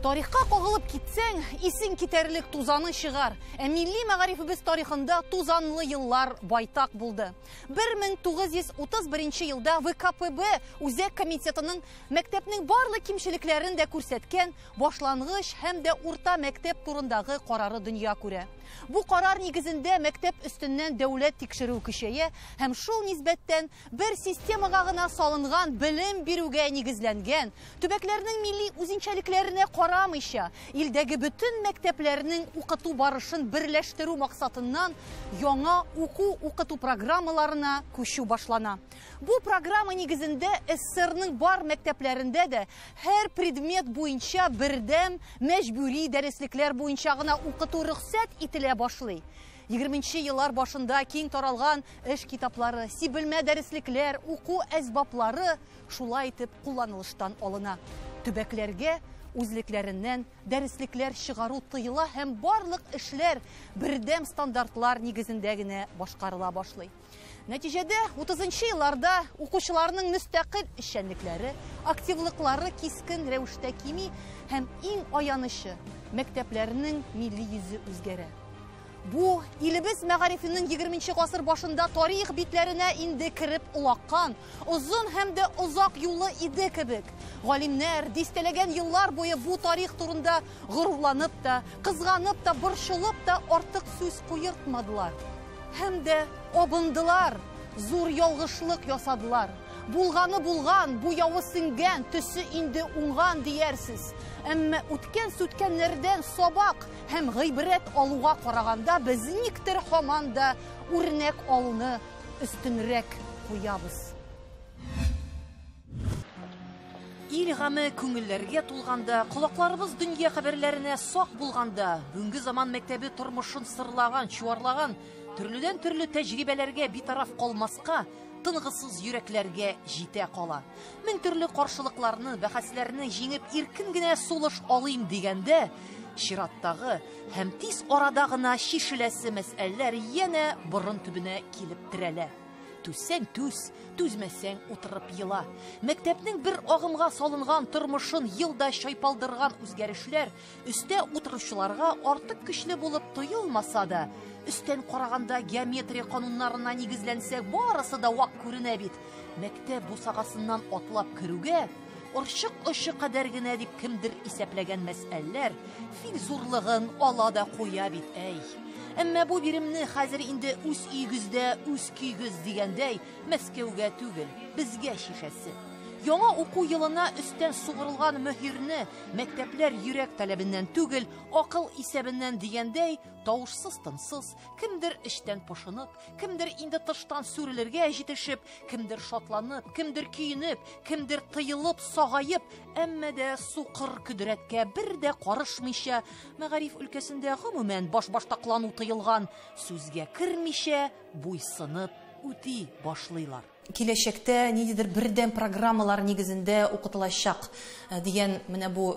Тарихка кагылып китсәң, исең китәрлек тузаны чыгар. Ә милли мәгарифебез тарихында тузанлы еллар байтак булды. 1931 елда ВКПБ үзәк комитетының мәктәпнең барлык кимчелекләрен дә күрсәткән башлангыч һәм дә урта мәктәп турындагы карары дөнья күрә. Бу карар нигезендә мәктәп өстеннән дәүләт тикшерү көчәя һәм шул нисбәттән бер системага гына салынган белем бирүгә нигезләнгән Төбәкләрнең милли үзенчәлекләренә карамыйча, илдәге бөтен мәктәпләрнең укыту барышын берләштерү максатыннан яңа уку-укыту программаларына күчү башлана. Бу программа нигезендә СССРның бар мәктәпләрендә дә һәр предмет буенча бердәм мәҗбүри дәреслекләр буенча гына укыту рөхсәт ителә башлый. Егерменче еллар башында киң таралган эш китаплары, сибелмә дәреслекләр, уку әсбаплары шулай итеп кулланылыштан алына. Төбәкләргә үзлекләреннән дәреслекләр чыгару тыела һәм барлык эшләр бердәм стандартлар нигезендә генә башкарыла башлый. Нәтиҗәдә 30 елларда укучыларның мөстәкыйль эшчәнлекләре, активлыклары кискен рәвештә кими һәм иң аянычы мәктәпләрнең милли йөзе үзгәрә. Бу, илебез мәгарифенең 20 нче гасыр башында тарих битләренә инде кереп олаккан, озын һәм дә озак юлы иде кебек. Галимнәр дистәләгән еллар буе бу тарих турында горурланып та, кызганып та, борчылып та артык сүз куертмадылар. Һәм дә абындылар, зур ялгышлык ясадылар. Булганы булган, буявы сеңгән, төсе инде уңган диярсез. Әмма үткән-сүткәннәрдән сабак, Һәм гыйбрәт алуга караганда без никтер һаман да үрнәк алуны өстенрәк куябыз. Ил гаме күңелләргә тулганда, колакларыбыз дөнья хәбәрләренә сак булганда, бүгенге заман мәктәбе тормышын сырлаган, чуарлаган, төрледән төрле тәҗрибәләргә битараф калмаска, тынгысыз йөрәкләргә җитә кала. Мең төрле каршылыкларны, бәхәсләрне җиңеп иркен генә сулыш алыйм дигәндә, чираттагы һәм тиз арада гына чишеләсе мәсьәләләр янә борын төбенә килеп терәлә. Түзсәң түз, түзмәсәң утырып ела. Мәктәпнең бер агымга салынган тормышын елда чайпалдырган үзгәрешләр Өстә утыручыларга артык көчле булып тоелмаса да, өстән караганда геометрия кануннарына нигезләнсәк, барысы да вак күренә бит. Мәктәп бусагасыннан атлап керүгә, орчык очы кадәр генә дип кемдер исәпләгән мәсьәләләр фиг зурлыгын ала да куя бит, әй. Әмма бу биремне хәзер инде үз өйегездә, үз көйгез дигәндәй, Мәскәүгә түгел, безгә шикәсе. Яңа уку елына өстән сугырылган мөһирне Мәктәпләр йөрәк таләбеннән түгел, акыл исәбеннән дигәндәй, тавышсыз-тынсыз, кемдер эчтән пошынып, кемдер инде тыштан сүрелергә җитешеп, кемдер шатланып, кемдер көенеп, кемдер тыелып, сагаеп, әмма дә сукыр көдрәткә бер дә карышмыйча, мәгариф өлкәсендә гомумән башбаштаклану тыелган, сүзгә кермичә, буйсынып үти башлыйлар. Киләчәктә ниндидер бердәм программалар нигезендә укытылачак дигән менә бу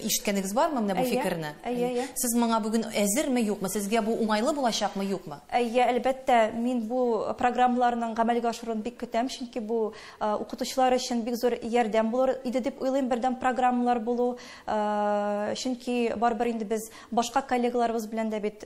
ишеткәнегез бармы менә бу фикерне? Әйе, әйе. Сез моңа бүген әзерме, юкмы? Сезгә бу уңайлы булачакмы, юкмы? Әйе, әлбәттә, мин бу программаларның гамәлгә ашыруын бик көтәм, чөнки бу укытучылар өчен бик зур ярдәм булыр иде дип уйлыйм бердәм программалар булу, чөнки барыбер инде без башка коллегаларыбыз белән дә бит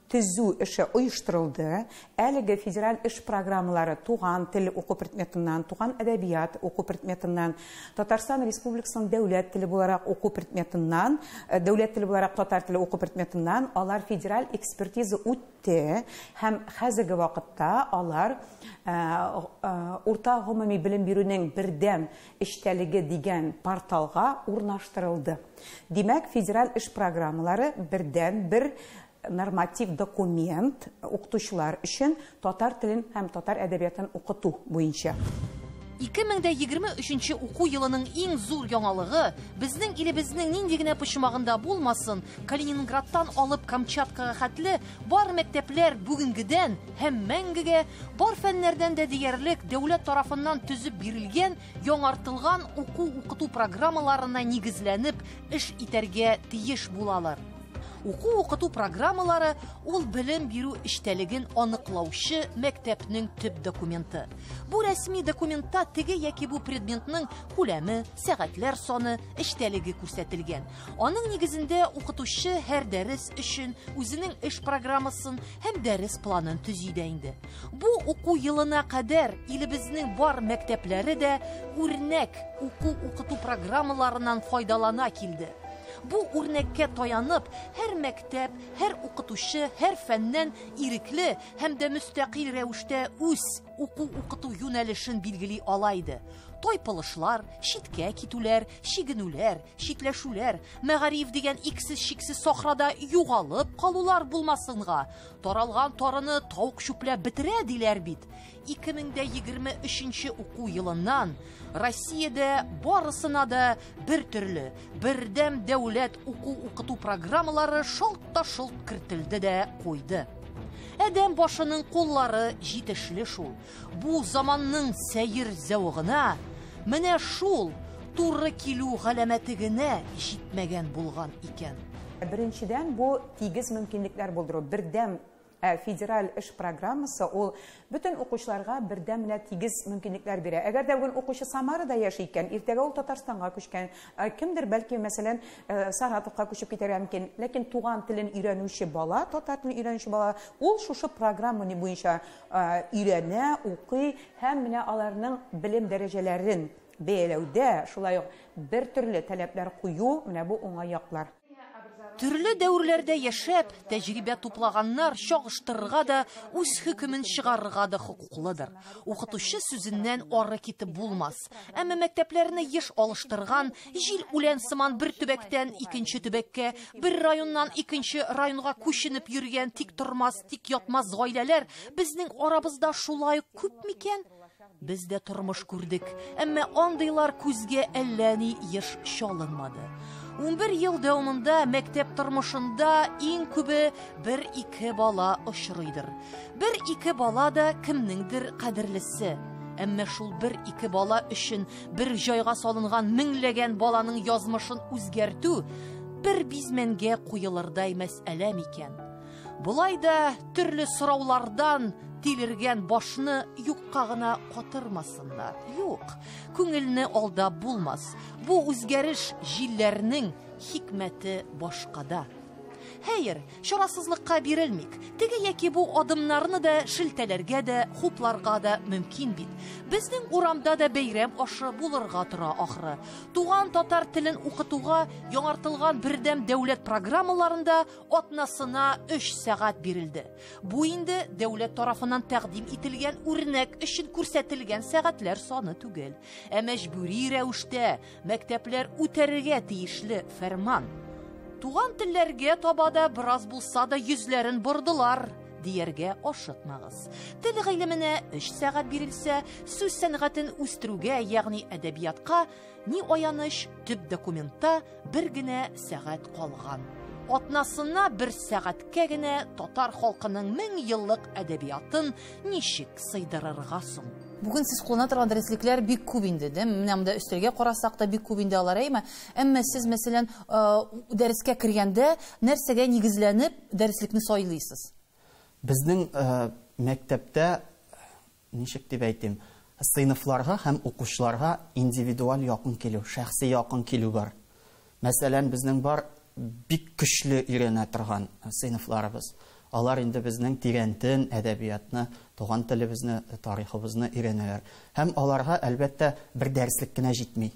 төзү эше оештырылды. Әлеге федераль эш программалары туган тел уку предметыннан, туган әдәбият уку предметыннан, Татарстан Республикасының дәүләт теле буларак уку предметыннан, э, дәүләт теле буларак татар теле уку предметыннан алар федераль экспертиза үтте һәм хәзерге вакытта алар э, э, урта гомуми белем бирүнең бердәм эчтәлеге дигән порталга урнаштырылды. Димәк, федераль эш программалары бердәнбер норматив документ укытучылар өчен татар телен һәм татар әдәбиятын укыту буенча. 2023 уку елының иң зур яңалыгы, безнең илебезнең нинди генә почмагында булмасын, Калининградтан алып Камчаткага хәтле Бар мәктәпләр бүгенгедән һәм мәңгегә бар фәннәрдән дә диярлек дәүләт тарафыннан төзеп бирелгән яңартылган уку-укыту программаларына нигезләнеп эш итәргә тиеш булалар. Уку-укыту программалары ул белем бирү эчтәлеген аныклаучы мәктәпнең төп документы. Бу рәсми документта теге яки бу предметның күләме, сәгатьләр саны, эчтәлеге күрсәтелгән. Аның нигезендә укытучы һәр дәрес өчен үзенең эш программасын һәм дәрес планын төзи дә инде. Бу уку елына кадәр илебезнең бар мәктәпләре дә үрнәк уку-укыту программаларыннан файдалана килде. Бу үрнәккә таянып, һәр мәктәп, һәр укытучы, һәр фәннән ирекле һәм дә мөстәкыйль рәвештә үз уку-укыту юнәлешен билгели ала иде. Тайпылышлар, читкә китүләр, чигенүләр, читләшүләр, мәгариф дигән иксез-чиксез сахрада югалып калулар булмасынга. Таралган тарыны тавык чүпләп бетерә диләр бит. 2023 уку елыннан Россиядә барысына да бер төрле, бердәм дәүләт уку-укыту программалары шалт та шолт кертелде дә куйды. Әдәм башының куллары җитешле шул. Бу заманның сәер зәвыгына менә шул туры килү галәмәте генә җитмәгән булган икән. Беренчедән, бу тигез мөмкинлекләр булдыру, бердәм Ә федераль эш программасы ул бөтен укучыларга бердәм менә тигез мөмкинлекләр бирә. Әгәр дә бүген укучы Самарада яши икән, иртәгә ул Татарстанга күчкән, ә кемдер бәлки, мәсәлән, э, Саратовка күчеп китәргә мөмкин. Ләкин туган телен өйрәнүче бала, татар телен өйрәнүче бала, ул шушы программа буенча өйрәнә, укый һәм менә аларның белем дәрәҗәләрен бәяләүдә шулай ук бертөрле таләпләр кую, менә бу уңай яклар. Төрле дәверләрдә яшәп, тәҗрибә туплаганнар чагыштырырга да, үз хөкемен чыгарырга да хокуклыдыр. Укытучы сүзеннән ары китеп булмас. Әмма мәктәпләрне еш алыштырган, җил үлән сыман бер төбәктән икенче төбәккә, бер районнан икенче районга күченеп йөргән тиктормас Тик ятмас гаиләләр безнең арабызда шулай ук күп микән? Без дә тормыш күрдек, әмма андыйлар күзгә әллә ни еш чалынмады. 11 ел дәвамында мәктәп тормышында иң күбе бер ике бала очрыйдыр. Бер ике бала да кемнеңдер кадерлесе. Әмма шул бер ике бала өчен бер җайга салынган меңләгән баланың язмышын үзгәртү бер бизмәнгә куелырдай мәсьәлә микән? Болай да төрле сораулардан тилергән башны юкка гына катырмасыннар. Юк, күңелне алда булмас. Бу үзгәреш җилләрнең хикмәте башкада. Хәер, чарасызлыкка бирелмик. Теге яки бу адымнарны да шелтәләргә дә, хупларга да мөмкин бит. Безнең урамда да бәйрәм ашы булырга тора ахры. Туган татар телен укытуга яңартылган бердәм дәүләт программаларында атнасына 3 сәгать бирелде. Бу инде дәүләт тарафыннан тәкъдим ителгән үрнәк өчен күрсәтелгән сәгатьләр саны түгел, ә мәҗбүри рәвештә мәктәпләр үтәргә тиешле фәрман. Туган телләргә таба да бераз булса да йөзләрен бордылар дияргә ашыкмагыз. Тел гыйлеменә 3 сәгать бирелсә, сүз сәнгатен үстерүгә, ягъни әдәбиятка Ни аяныч, төп документта бер генә сәгать калган. Атнасына бер сәгатькә генә татар халкының мең еллык әдәбиятын ничек сыйдырырга соң? Бүген сез куллана торган дәреслекләр бик күп инде, дә? Менә монда өстәлгә карасак та бик күп инде алар, әйме? Әмма сез, мәсәлән, э, дәрескә кергәндә нәрсәгә нигезләнеп дәреслекне сайлыйсыз? Безнең э, мәктәптә Ничек дип әйтим, сыйныфларга һәм укучыларга индивидуаль якын килү, шәхси якын килү бар. Мәсәлән, безнең бар бик көчле өйрәнә торган сыйныфларыбыз. Алар инде безнең тирәнтен әдәбиятны, туган телебезне, тарихыбызны өйрәнәләр. Һәм аларга, әлбәттә, бер дәреслек кенә җитми.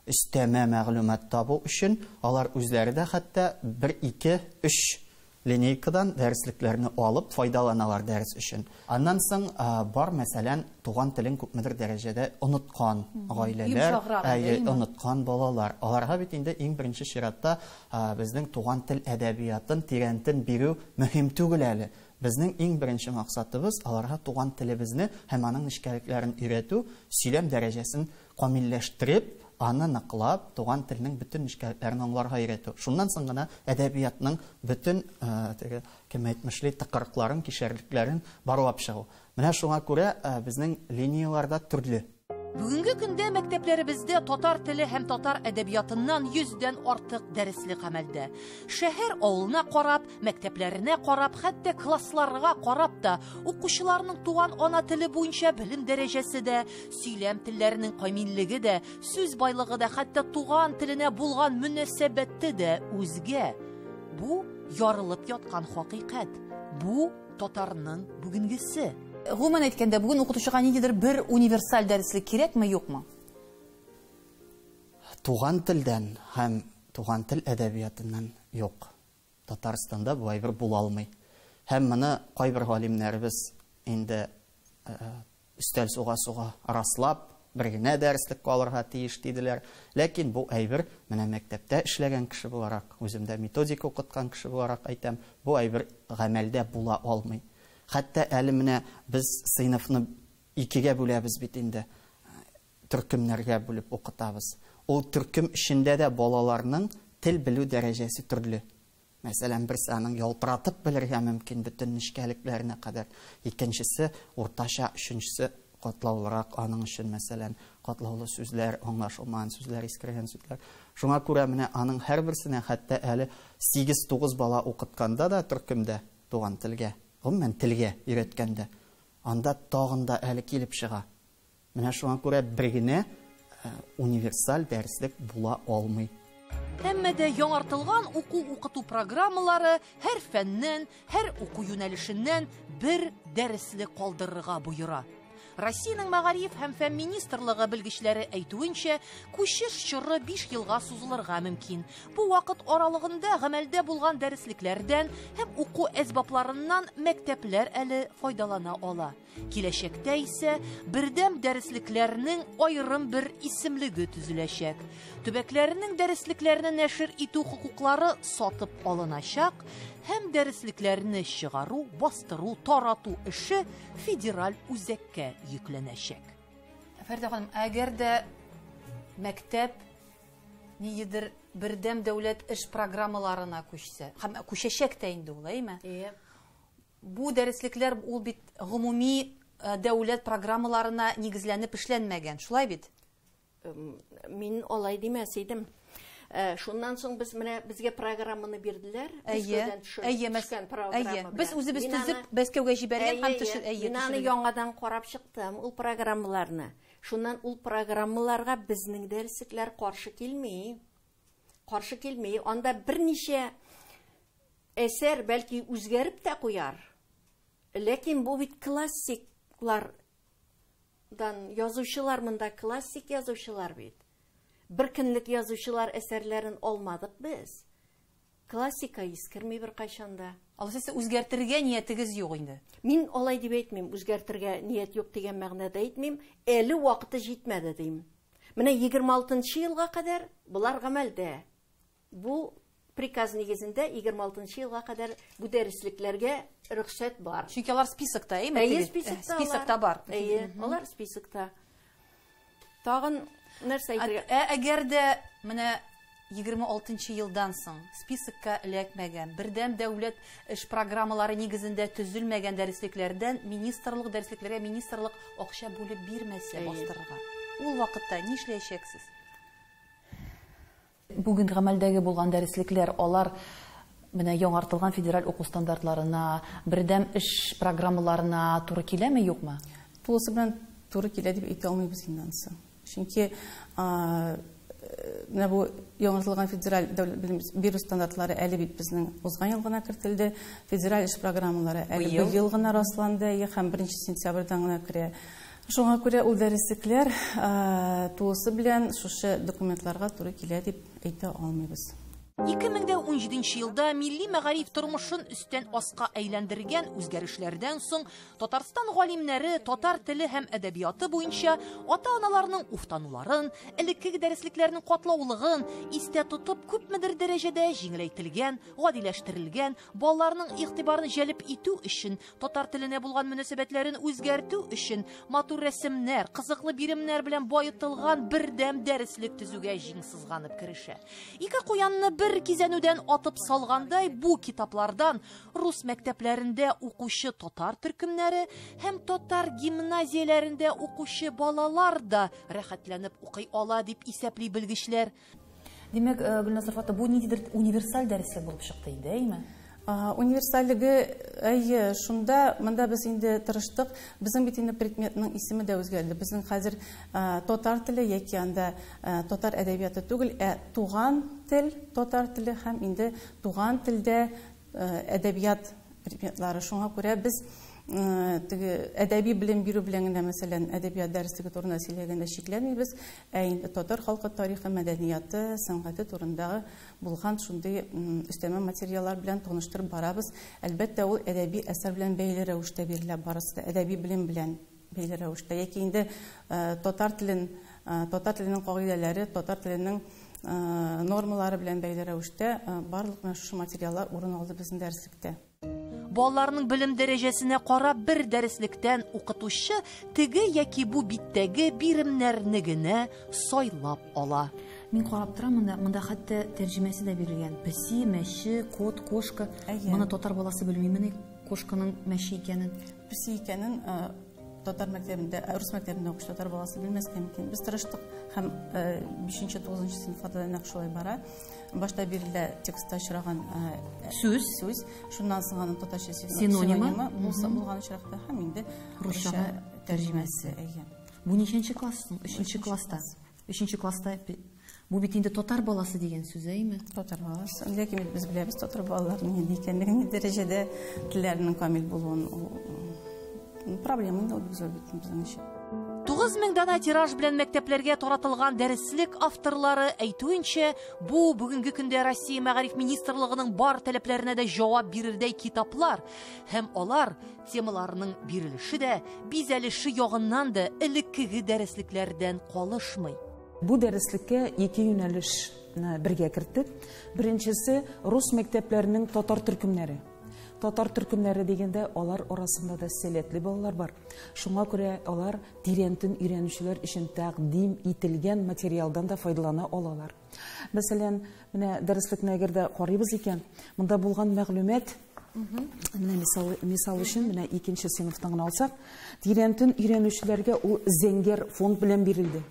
Өстәмә мәгълүмат табу өчен алар үзләре дә хәтта бер, ике, өч линейкадан дәреслекләрне алып файдаланалар дәрес өчен. Аннан соң бар, мәсәлән, туган телен күпмедер дәрәҗәдә оныткан гаиләләр, әйе, оныткан балалар. Аларга бит инде иң беренче чиратта безнең туган тел әдәбиятын тирәнтен бирү мөһим түгел әле. Безнең иң беренче максатыбыз, аларга туган телебезне һәм аның нечкәлекләрен өйрәтү, сөйләм дәрәҗәсен камилләштереп, аны ныклап, туган телнең бөтен нечкәлекләрен аңларга өйрәтү. Шуннан соң гына әдәбиятның бөтен теге кемәйтмешли тыкрыкларын, кишәрлекләрен барлап чыгу. Менә шуңа күрә безнең линияләр дә төрле. Бүгенге көндә мәктәпләребездә татар теле һәм татар әдәбиятыннан 100 дән артык дәреслек гамәлдә. Шәһәр авылына карап, мәктәпләренә карап, хәтта классларга карап та, укучыларның туган ана теле буенча белем дәрәҗәсе дә, Сөйләм телләренең камиллеге дә, сүз байлыгы да, хәтта туган теленә булган мөнәсәбәте дә үзгә. Бу ярылып яткан хакыйкать. Бу татарның бүгенгесе. Гомумән әйткәндә, бүген укытучыга ниндидер бер универсаль дәреслек кирәкме, юкмы? Туган телдән һәм туган тел әдәбиятыннан юк. Татарстанда болай бер була алмый. Һәм моны кайбер галимнәребез инде өстәл суга-суга раслап, бер генә дәреслек калырга тиеш диделәр. Ләкин бу әйбер, менә мәктәптә эшләгән кеше буларак, үземдә методика укыткан кеше буларак әйтәм, бу әйбер гамәлдә була алмый. Хәтта әле менә без сыйныфны икегә бүләбез бит инде. төркемнәргә бүлеп укытабыз. Ул төркем эчендә дә балаларның тел белү дәрәҗәсе төрле. Мәсәлән, берсе аның ялтыратып белергә мөмкин бөтен нечкәлекләренә кадәр, икенчесе уртача, өченчесе катлаулырак аның өчен, мәсәлән, катлаулы сүзләр, аңлашылмаган сүзләр, искергән сүзләр. Шуңа күрә менә аның һәрберсенә хәтта әле 8-9 бала укытканда да төркемдә туган телгә, гомумән телгә өйрәткәндә, анда тагын да әле килеп чыга. Менә шуңа күрә бер генә универсаль дәреслек була алмый. Әмма дә яңартылган уку-укыту программалары һәр фәннән, һәр уку юнәлешеннән бер дәреслек калдырырга боера. Россиянең мәгариф һәм фән министрлыгы белгечләре әйтүенчә, күчеш чоры 5 елга сузылырга мөмкин. Бу вакыт аралыгында гамәлдә булган дәреслекләрдән һәм уку әсбапларыннан мәктәпләр әле файдалана ала. Киләчәктә исә бердәм дәреслекләрнең аерым бер исемлеге төзеләчәк. Төбәкләрнең дәреслекләрне нәшер итү хокуклары сатып алыначак һәм дәреслекләрне чыгару, бастыру, тарату эше федераль үзәккә йөкләнәчәк. Фәрдә ханым, әгәр дә мәктәп ниедер бердәм дәүләт эш программаларына күчсә, һәм күчәчәк тә инде ул, әйме? Әйе. Бу дәреслекләр ул бит гомуми дәүләт программаларына нигезләнеп эшләнмәгән, шулай бит? Мин алай димәс идем. Шуннан соң без менә безгә программаны бирделәр. Әйе, әйе, мәскән программа. Әйе, без үзебез төзеп Мәскәүгә җибәргән һәм төшер, әйе. Мин аны яңадан карап чыктым, ул программаларны. Шуннан ул программаларга безнең дәреслекләр каршы килми. Каршы килми. Анда берничә Әсәр, бәлки, үзгәреп тә куяр, ләкин бу бит классиклар дан язучылар монда классик язучылар бит. Бер көнлек язучылар әсәрләрен алмадык без. Классика искерми бер кайчанда. Алайса үзгәртергә ниятегез юк инде. Мин алай дип әйтмим, үзгәртергә ният юк дигән мәгънәдә әйтмим, әле вакыты җитмәде дим. Менә 26 елга кадәр болар гамәлдә. Бу приказ нигезендә егерме алтынчы елга кадәр бу дәреслекләргә рөхсәт бар. Чөнки алар списокта, әйме? Әйе, списокта. Списокта бар. Әйе, алар списокта. Тагын нәрсә әйтергә? Ә әгәр дә менә 26 елдан соң списокка эләкмәгән, бердәм дәүләт эш программалары нигезендә төзелмәгән дәреслекләрдән министрлык дәреслекләргә министрлык акча бүлеп бирмәсә бастырырга. Ул вакытта нишләячәксез? Бүген гамәлдәге булган дәреслекләр, алар менә яңартылган федераль уку стандартларына, бердәм эш программаларына туры киләме, юкмы? Тулысы белән туры килә дип әйтә алмыйбыз инде анысы. Чөнки менә бу яңартылган федераль дәүләт белем бирү стандартлары әле бит безнең узган ел гына кертелде. Федераль эш программалары әле быел гына расланды, һәм беренче сентябрьдән гына керә. Шуңа күрә ул дәреслекләр тулысы белән шушы документларга туры килә дип әйтә алмыйбыз. 2017 нче елда милли мәгариф тормышын өстән аска әйләндергән үзгәрешләрдән соң Татарстан галимнәре татар теле һәм әдәбияты буенча ата-аналарның уфтануларын, элеккеге дәреслекләрнең катлаулыгын истә тотып, күпмедер дәрәҗәдә җиңеләйтелгән, гадиләштерелгән, Балаларның игътибарын җәлеп итү өчен, татар теленә булган мөнәсәбәтләрен үзгәртү өчен матур рәсемнәр, кызыклы биремнәр белән баетылган бердәм дәреслек төзүгә җиң сызганып керешә. Ике куянны бер кизәнүдән атып салгандай бу китаплардан рус мәктәпләрендә укучы татар төркемнәре һәм татар гимназияләрендә укучы балалар да рәхәтләнеп укый ала, дип исәпли белгечләр. Димәк, э, Гөлназ Рфата, бу ниндидер универсаль дәреслек булып чыкты инде, әйме? Универсальлеге әйе, шунда монда без инде тырыштык. Безнең бит инде предметның исеме дә үзгәрде. Безнең хәзер татар теле яки анда татар әдәбияты түгел, ә туган тел, татар теле һәм инде туган телдә әдәбият предметлары. Шуңа күрә без теге әдәби белем бирү белән генә, мәсәлән, әдәбият дәреслеге турында сөйләгәндә чикләнмибез, ә инде татар халкы тарихы, мәдәнияты, сәнгате турында булган шундый өстәмә материаллар белән таныштырып барабыз. Әлбәттә, ул әдәби әсәр белән бәйле рәвештә бирелә, барысы да әдәби белем белән. Бәйле рәвештә яки инде татар телен, татар теленең кагыйдәләре, татар теленең нормалары белән бәйле рәвештә барлык менә шушы материаллар урын алды безнең дәреслектә. Балаларның белем дәрәҗәсенә карап бер дәреслектән укытучы теге яки бу биттәге биремнәрне генә сайлап ала. Мин карап торам монда, монда хәтта тәрҗемәсе дә бирелгән. Песи, мәче, кот, кошка. Моны татар баласы белмимени? Кошканың мәче икәнен. Песи икәнен татар мәктәбендә, ә, рус мәктәбендә укучы татар баласы белмәскә мөмкин. Без тырыштык һәм 5-нче, 9-нчы сыйныфларда нәкъ шулай бара. Башта бирелә текстта очраган э, сүз, сүз. Шуннан соң аның татарча синонимы булса булган очракта һәм инде русча тәрҗемәсе. Бу ничәнче класс соң? 3-нче класста. Өченче класста бу бит инде татар баласы дигән сүз әйме? Татар баласы. Ләкин бит без беләбез татар балаларының нинди икәнлеген, ни дәрәҗәдә телләренең камил булуын. Проблема инде ул без бит безнең өчен. 9000 дана тираж белән мәктәпләргә таратылган дәреслек авторлары әйтүенчә, бу бүгенге көндә Россия мәгариф министрлыгының бар таләпләренә дә җавап бирердәй китаплар һәм алар Темаларның бирелеше дә, бизәлеше ягыннан да элеккеге дәреслекләрдән калышмый. Бу дәреслеккә ике юнәлешне бергә керттек. Беренчесе, рус мәктәпләренең татар төркемнәре. Татар төркемнәре дигәндә, алар арасында да сәләтле балалар бар. Шуңа күрә алар тирәнтен өйрәнүчеләр өчен тәкъдим ителгән материалдан да файдалана алалар. Мәсәлән, менә дәреслекне әгәр дә карыйбыз икән, монда булган мәгълүмат Менә мисал, мисал өчен менә икенче сыйныфтан гына алсак, тирәнтен өйрәнүчеләргә ул зәңгәр фонд белән бирелде.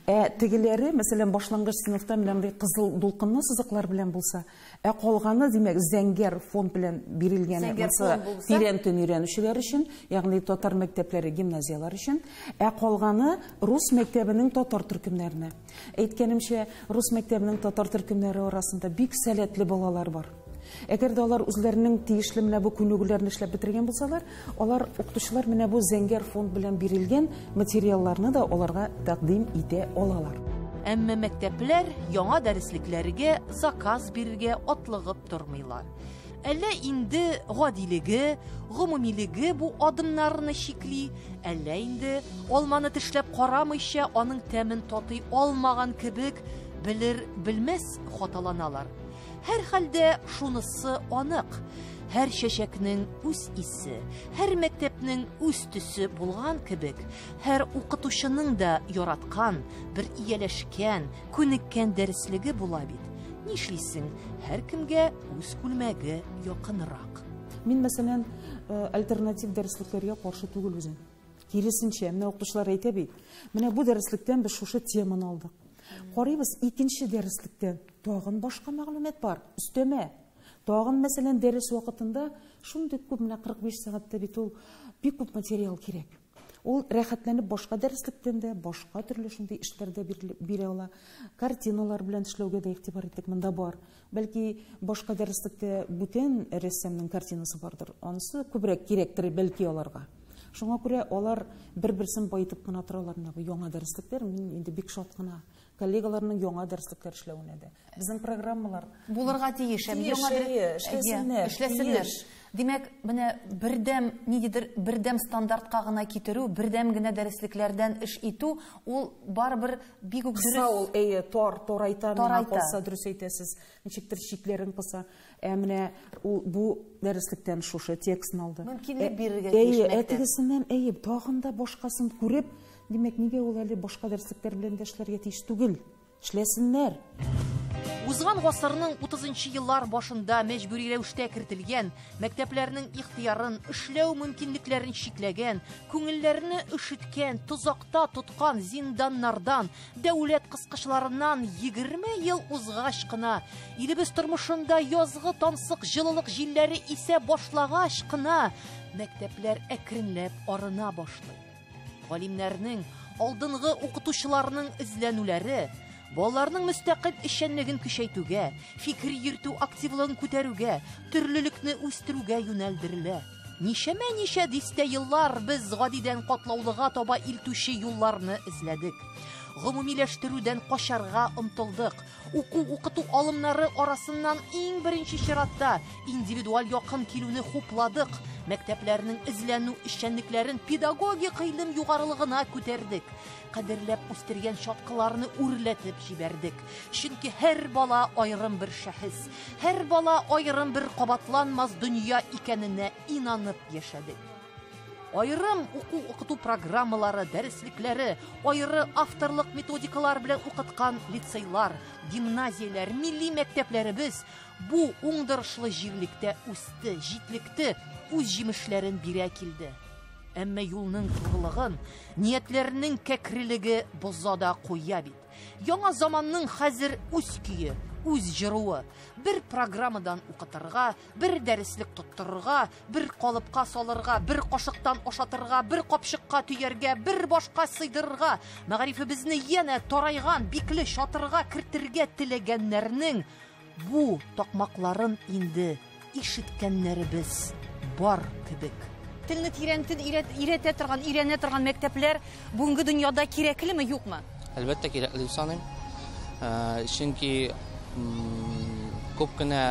Ә тегеләре, мәсәлән, башлангыч сыйныфта менә мондый кызыл дулкынлы сызыклар белән булса, Ә калганы, димәк, зәңгәр фон белән бирелгән монсы тирән төн өйрәнүчеләр өчен, ягъни татар мәктәпләре, гимназияләр өчен. Ә калганы рус мәктәбенең татар төркемнәренә. Әйткәнемчә, рус мәктәбенең татар төркемнәре арасында бик сәләтле балалар бар. Әгәр дә алар үзләренең тиешле менә бу күнегүләрне эшләп бетергән булсалар, Алар укытучылар менә бу зәңгәр фонд белән бирелгән материалларны да аларга тәкъдим итә алалар. Әмма мәктәпләр яңа дәреслекләргә заказ бирергә атлыгып тормыйлар. Әллә инде гадилеге, гомумилеге бу адымнарны чикли, әллә инде, алманы тешләп карамыйча, аның тәмен татый алмаган кебек, белер-белмәс хаталаналар. Һәрхәлдә шунысы анык, һәр чәчәкнең үз исе, һәр мәктәпнең үз төсе булган кебек, һәр укытучының да яраткан, бер ияләшкән, күнеккән дәреслеге була бит. Нишлисең, һәркемгә үз күлмәге якынрак. Мин, мәсәлән, э, альтернатив дәреслекләргә каршы түгел үзем. Киресенчә, менә укытучылар әйтә бит, менә бу дәреслектән без шушы теманы алдык. Карыйбыз икенче дәреслектән. Тагын башка мәгълүмат бар, өстәмә. Тагын, мәсәлән, дәрес вакытында шундый күп, менә 45 сәгатьтә бит ул бик күп материал кирәк. Ул рәхәтләнеп башка дәреслектән дә, башка төрле шундый эшләрдә бирә ала. Картиналар белән эшләүгә дә игътибар иттек, монда бар. Бәлки башка дәреслектә бүтән рәссамның картинасы бардыр. Анысы күбрәк кирәктер бәлки аларга. Шуңа күрә алар бер-берсен баетып кына торалар менә бу яңа дәреслектәр. Мин инде бик шат кына. коллегаларның яңа дәреслекләр эшләвенә дә. Безнең программалар булырга тиеш, һәм яңа эшләсеннәр. Эшләсеннәр. Димәк, менә бердәм ниндидер бердәм стандартка гына китерү, бердәм генә дәреслекләрдән эш итү, ул барыбер бик үк дөрес. Кыса ул, әйе, тар, тарайта, миңа калса, дөрес әйтәсез. Ничектер чикләрен кыса. Ә менә ул бу дәреслектән шушы текстны алды. Мөмкинлек э, бирергә тиеш. Әйе, әтегесеннән әйе, тагын да башкасын күреп, димәк, нигә ул әле башка дәреслектәр белән дә эшләргә тиеш түгел? Эшләсеннәр. Узган гасырның 30 еллар башында мәҗбүри рәвештә кертелгән, мәктәпләрнең ихтыярын, эшләү мөмкинлекләрен чикләгән, күңелләрне өшеткән, тозакта тоткан зинданнардан Дәүләт кыскычларыннан 20 ел узгач кына, илебез тормышында язгы тансык җылылык җилләре исә башлагач кына, мәктәпләр әкренләп арына башлый. Галимнәрнең, алдынгы укытучыларның эзләнүләре балаларның мөстәкыйль эшчәнлеген көчәйтүгә, фикер йөртү активлыгын күтәрүгә, төрлелекне үстерүгә юнәлдерелә. Ничәмә ничә дистә еллар без гадидән катлаулыга таба илтүче юлларны эзләдек. Гомумиләштерүдән качарга омтылдык. Уку-укыту алымнары арасыннан иң беренче чиратта индивидуаль якын килүне хупладык. Мәктәпләрнең эзләнү эшчәнлекләрен педагогик гыйлем югарылыгына күтәрдек. кадерләп үстергән чаткыларны үрләтеп җибәрдек. Чөнки һәр бала аерым бер шәхес, һәр бала аерым бер кабатланмас дөнья икәненә инанып яшәдек. Аерым уку укыту программалары, дәреслекләре, аеры авторлык методикалар белән укыткан лицейлар, гимназияләр, милли мәктәпләребез бу уңдырышлы җирлектә үсте, җитлекте, үз җимешләрен бирә килде. Әмма юлның тугылыгын, ниятләрнең кәкрелеге боза да куя бит. Яңа заманның хәзер үз көе, үз җыруы. Бер программадан укытырга, бер дәреслек тоттырырга, бер калыпка салырга, бер кашыктан ашатырга, бер капчыкка төяргә, бер башка сыйдырырга. Мәгарифебезне янә тарайган бикле чатырга кертергә теләгәннәрнең Бу такмакларын инде ишеткәннәребез бар кебек. Телне тирәнтен өйрәтә торган, өйрәнә торган мәктәпләр бүгенге дөньяда кирәклеме, юкмы? Әлбәттә, кирәкле дип саныйм. Ә, чөнки күп кенә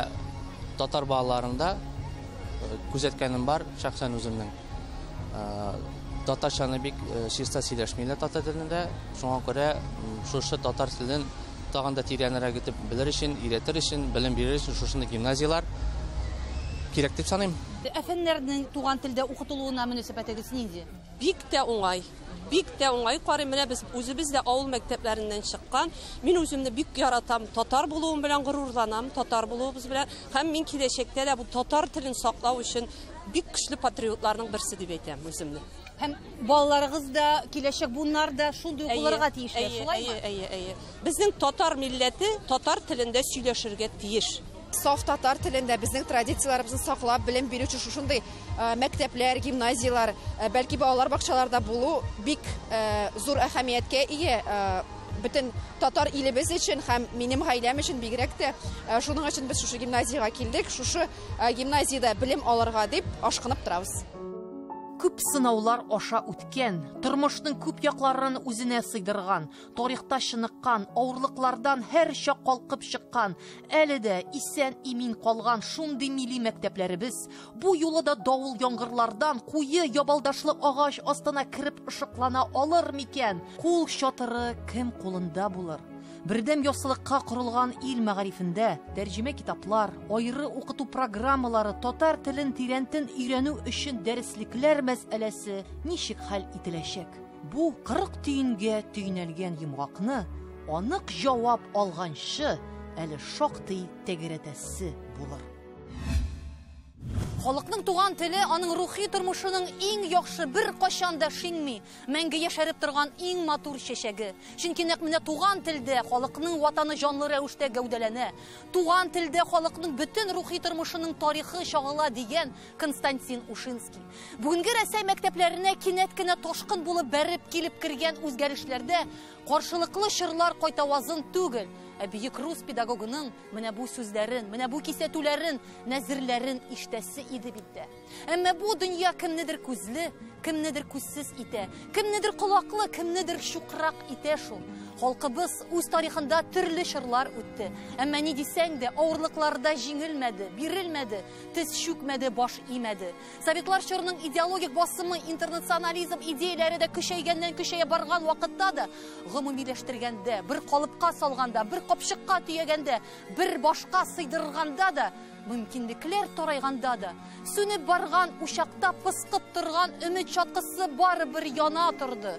татар балаларында күзәткәнем бар шәхсән үземнең. Татарчаны бик чиста сөйләшмиләр татар телендә. Шуңа күрә шушы татар телен тагын да тирәнрәк итеп белер өчен, өйрәтер өчен, белем бирер өчен шушындый гимназияләр кирәк дип саныйм. Әфәннәрнең туган телдә укытылуына мөнәсәбәтегез нинди? Бик тә уңай. Бик тә уңай карыйм. Менә без үзебез дә авыл мәктәпләреннән чыккан. Мин үземне бик яратам. Татар булуым белән горурланам, татар булуыбыз белән. Һәм мин киләчәктә дә бу татар телен саклау өчен Бик көчле патриотларның берсе дип әйтәм үземне. Һәм балаларыгыз да, киләчәк буыннар да шундый ук булырга тиешләр, шулаймы? Әйе, әйе, әйе. Безнең татар милләте татар телендә сөйләшергә тиеш. Саф татар телендә безнең традицияләребезне саклап, белем бирүче шушындый э, мәктәпләр, гимназияләр, э, бәлки балалар бакчаларда булу бик э, зур әһәмияткә ие бөтен татар илебез өчен һәм минем гаиләм өчен бигрәк тә шуның өчен без шушы гимназиягә килдек шушы э, гимназиядә белем алырга дип ашкынып торабыз. Күп сынаулар аша үткән, тормышның күп якларын үзенә сыйдырган, тарихта чыныккан, авырлыклардан һәр чак калкып чыккан, әле дә исән имин калган шундый милли мәктәпләребез бу юлы да давыл яңгырлардан куе ябалдашлы агач астына кереп ышыклана алыр микән? Кул чатыры кем кулында булыр? Бердәм яссылыкка корылган ил мәгарифендә тәрҗемә китаплар, айры укыту программалары, татар телен тирәнтен өйрәнү өчен дәреслекләр мәсьәләсе ничек хәл ителәчәк? Бу 40 төенгә төйнәлгән йомгакны анык җавап алганчы әле шактый тәгәрәтәсе булыр. Халыкның туган теле аның рухи тормышының иң яхшы бер качан да шиңми. Мәңге яшәреп торган иң матур чәчәге. Чөнки нәкъ менә туган телдә халыкның ватаны җанлы рәвештә гәүдәләнә. Туган телдә халыкның бөтен рухи тормышының тарихы чагыла, дигән Константин Ушинский. Бүгенге Рәсәй мәктәпләренә кинәт кенә ташкын булып бәреп килеп кергән үзгәрешләрдә каршылыклы чорлар кайтавазын түгел, ә бөек рус педагогының менә бу сүзләрен, менә бу кисәтүләрен, нәзерләрен ишетәсе иде бит дә. Әмма бу дөнья кемнедер күзле, кемнедер күзсез итә, кемнедер колаклы, кемнедер чукрак итә шул. Халкыбыз үз тарихында төрле чорлар үтте. Әмма ни дисәң дә, авырлыкларда җиңелмәде, бирелмәде, тез чүкмәде, баш имәде. Советлар чорының идеологик басымы, интернационализм идеяләре дә көчәйгәннән көчәя барган вакытта да, гомумиләштергәндә, бер калыпка салганда, бер капчыкка төягәндә, бер башка сыйдырганда да Мөмкинлекләр тарайганда да, сүнеп барган учакта пыскып торган өмет чаткысы барыбер яна торды.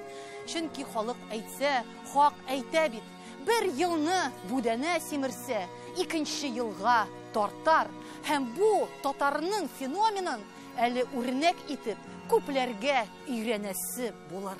Чөнки халык әйтсә, хак әйтә бит. Бер елны бүдәнә симерсә, икенче елга тартар. Һәм бу татарның феноменын әле үрнәк итеп күпләргә өйрәнәсе булыр.